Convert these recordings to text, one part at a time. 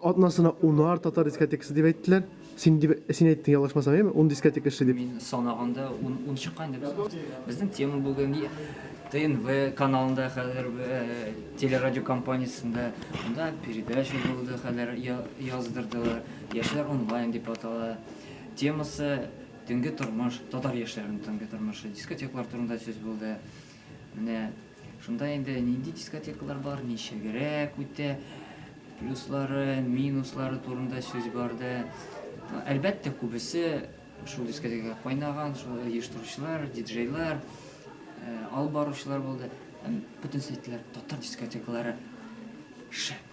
Атнасына унар татар дискотекасы дип әйттеләр. Син дип, син әйттең, ялгышмасам, яме? Ун дискотека эшли дип. Мин санаганда ун, ун чыккан иде без. Безнең тема бүген ТНВ каналында хәзер телерадио компаниясендә монда передача булды хәзер яздырдылар. Яшьләр онлайн дип атала. Темасы төнге тормыш, татар яшьләренең төнге тормышы, дискотеклар турында сүз булды. Менә шунда инде нинди дискотекалар бар, ничегрәк үтә, плюслары, минуслары турында сүз барды. Әлбәттә, күбесе шул дискотекага кайнаган, шул оештыручылар, диджейлар, э, алып баручылар булды. Һәм бөтен сәйтләр татар дискотекалары шәп.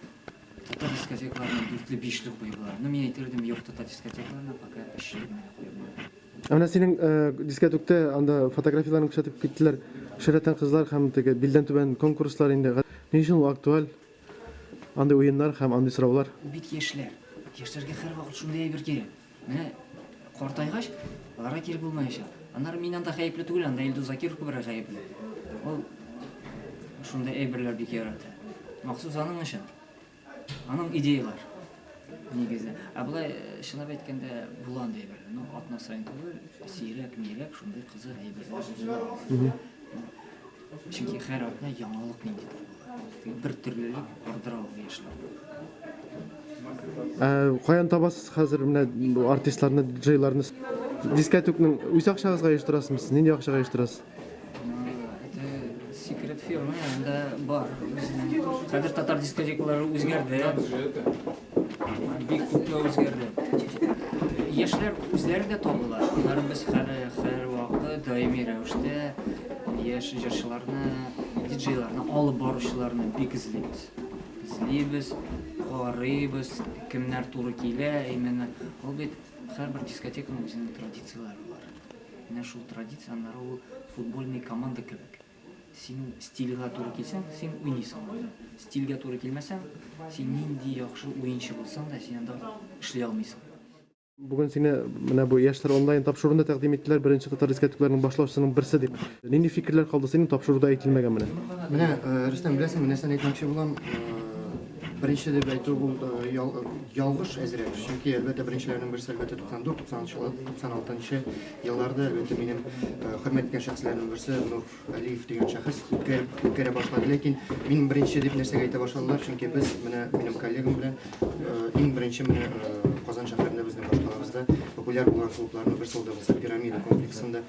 Татар дискотекаларына дүртле, бишле куйып була. Ну, мин әйтер идем, юк татар дискотекаларына пока өчле генә куеп була. Ә менә синең дискәтүктә анда фотографияләрен күрсәтеп киттеләр. Шәрәтән кызлар һәм теге билдән түбән конкурслар инде. Ни өчен ул актуаль? Андый уеннар һәм андый сораулар. Ул бит яшьләр. Яшьләргә һәрвакыт шундый әйбер кирәк. Менә картайгач, аларга кирәк булмаячак. Аннары мин анда гаепле түгел, анда Илдус Закиров күбрәк гаепле. Ул шундый әйберләр бик ярата. Махсус аның өчен. Аның идеялар нигезе. Ә болай чынлап әйткәндә була андый әйбер. Ну, атна саен түгел, сирәк, мирәк шундый кызык әйберләр була. Чөнки һәр атна яңалык нинди була. Бер төрлелек ардыра ул яшьләр. Ә каян табасыз хәзер менә бу артистларны, диджейларны? Дискәтүкнең үз акчагызга оештырасызмы? Сез нинди акчага оештырасыз? секрет фирмы анда бар хәзер татар дискотекалары үзгәрде бик күпме үзгәрде яшьләр үзләре дә табыла аннары без һәрвакыт даими рәвештә яшь җырчыларны диджейларны алып баручыларны бик эзлибез эзлибез карыйбыз кемнәр туры килә именно ул бит һәрбер дискотеканың үзенең традицияләре бар Менә шул традиция, аннары ул футбольный команда кебек. Синең стильга туры килсәң, син уйныйсың анда. Стильга туры килмәсәң, син нинди яхшы уенчы булсаң да, син анда эшли алмыйсың. Бүген сине менә бу Яшьләр онлайн тапшыруында тәкъдим иттеләр, беренче татар искәртүкләренең башлаучысының берсе дип. Нинди фикерләр калды синең тапшыруда әйтелмәгән менә? Менә, Рөстәм, беләсеңме, нәрсәне әйтмәкче булам? Беренче дип әйтү бу ялгыш әзрәк, чөнки әлбәттә беренчеләрнең берсе әлбәттә 94-96 елларда әлбәттә минем хөрмәт иткән шәхесләрнең берсе Нур Алиев дигән шәхес үткәреп үткәрә башлады. Ләкин мин беренче дип нәрсәгә әйтә башладылар, чөнки без менә минем коллегам белән иң беренче менә Казан шәһәрендә безнең башкалабызда популяр булган клубларның берсе ул да булса пирамида комплексында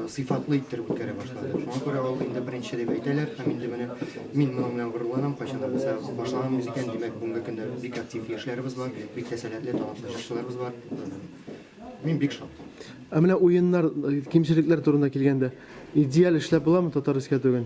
сыйфатлы иттереп үткәрә башлады. Шуңа күрә ул инде беренче дип әйтәләр һәм инде менә мин моның белән горурланам, кайчандыр без башлаганбыз икән, димәк, бүгенге көндә бик актив яшьләребез бар, бик тә сәләтле, талантлы җырчыларыбыз бар. Мин бик шат. Ә менә уеннар, кимчелекләр турында килгәндә, идеаль эшләп буламы Татар-Искә түгел?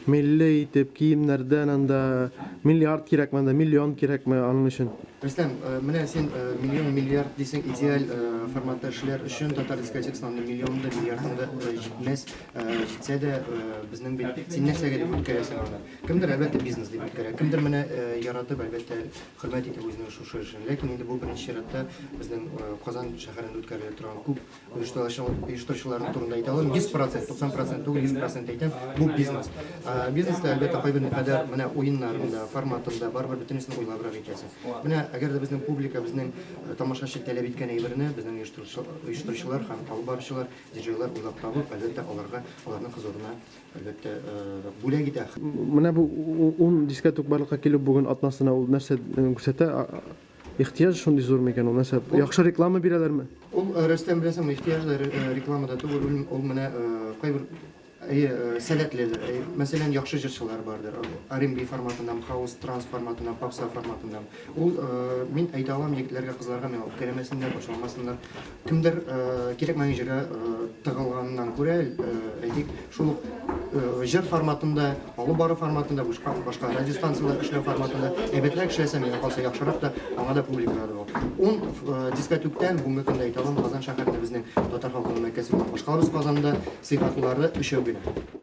Милли итеп киемнәрдән анда миллиард кирәкме, анда миллион кирәкме аның өчен? Рөстәм, менә син миллион, миллиард дисең, идеаль форматта эшләр өчен татар дискотекасына андый миллион да, миллиард да җитмәс. Җитсә дә, безнең бит син нәрсәгә дип үткәрәсең аны? Кемдер, әлбәттә, бизнес дип үткәрә, кемдер менә яратып, әлбәттә, хөрмәт итеп үзенең шушы эшен. Ләкин инде бу беренче чиратта безнең Казан шәһәрендә үткәрелә торган күп оештыручылар турында әйтә алам, 100 процент, 90 процент түгел, 100 процент әйтәм, бу бизнес. Бизнеста, әлбәттә, кайбер никадәр менә уеннарында, форматында барыбер бөтенесен уйлабрак итәсең. Менә әгәр дә безнең публика, безнең тамашачы таләп иткән әйберне безнең оештыручылар һәм алып баручылар, диджейлар уйлап табып, әлбәттә, аларга, аларның хозурына, әлбәттә, бүләк итә. Менә бу ун дискә тук барлыкка килү бүген атнасына ул нәрсә күрсәтә? Ихтыяҗ шундый зур микән ул нәрсә? Яхшы реклама бирәләрме? Ул э, Рөстәм беләсең, ихтыяҗ да э, рекламада түгел, ул менә э, кайбер әйе сәләтлеләр. Мәсәлән, яхшы җырчылар бардыр. R&B форматыннан, хаус транс форматыннан, попса форматыннан. Ул мин әйтә алам егетләргә, кызларга миңа үпкәләмәсеннәр, борчылмасыннар. Кемдер кирәкмәгән җиргә тыгылганнан күрә, әйтик, шул ук җыр форматында, алып бару форматында, башка радиостанцияләр эшләү форматында әйбәтрәк эшләсә, миңа калса яхшырак та, аңа да публика да бу. Ун дискә түктән бүгенге көндә әйтә алам, Казан шәһәрендә безнең татар халкының мәкәсе булган башкалабыз Казанда сыйфатлылары өчәү генә.